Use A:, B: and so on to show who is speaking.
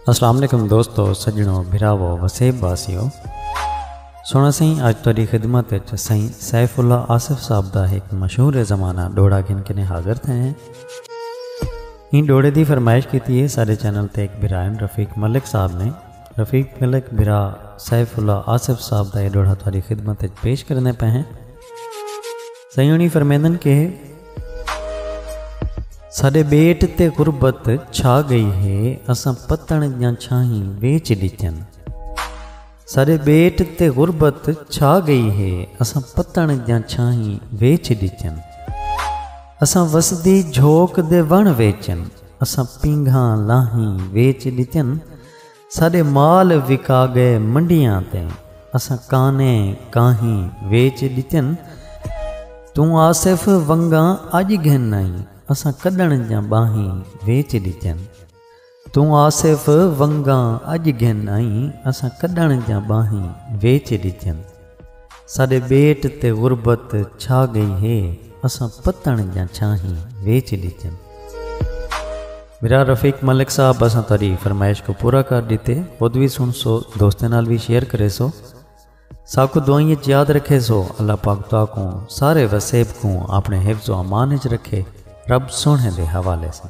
A: السلام علیکم دوستو سجنو بھراو وسیب واسیو سونا سائیں اج تیری خدمت وچ سائیں سیف اللہ آصف صاحب دا ایک مشہور زمانہ ڈوڑا گن کنے حاضر تھے ہیں ان ڈوڑے دی فرمائش کیتی ہے سارے چینل تے ایک بھرائن رفیق ملک صاحب نے رفیق ملک بھرا سیف اللہ آصف صاحب دا یہ ڈوڑا تیری خدمت وچ پیش کرنے پہ ہیں سائیں ہنی فرمیندن کہ ساڈے بیٹ تے غربت چھا گئی ہے اساں پتن دیاں چھاہیں ویچ ڈتیاں ساڈے بیٹ تے غربت چھا گئی ہے اساں پتن دیاں چھاہیں ویچ ڈتیاں اساں وسدی جھوک دے ون ویچن اساں پینگھاں لاہیں ویچ ڈتیاں ساݙے مال وکا ڳئے منڈیاں تے اساں کانے کاہیں ویچ ݙتن توں آصف ونگاں اڄ گھن آئیں اساں کݙݨ دیاں ٻاہیں ویچ ݙتن توں آصف ونگاں اڄ گھن آئیں اساں کݙݨ دیاں ٻاہیں ویچ ݙتن۔ ساݙے ٻیٹ تے غربت چھا ڳئی ہے اساں پتݨ دیاں چھاہیں ویچ ݙتن۔ میرا رفیق ملک صاحب اساں تہاݙی فرمائش کوں پورا کر ݙتے خود وی سݨسو دوستاں نال وی شیئر کریسو ساکوں دعائیں اچ یاد رکھیسو اللہ پاک تہاکوں سارے وسیب کوں آپݨے حفظ و امان اچ رکھے رب سوہݨے دے حوالے ساں۔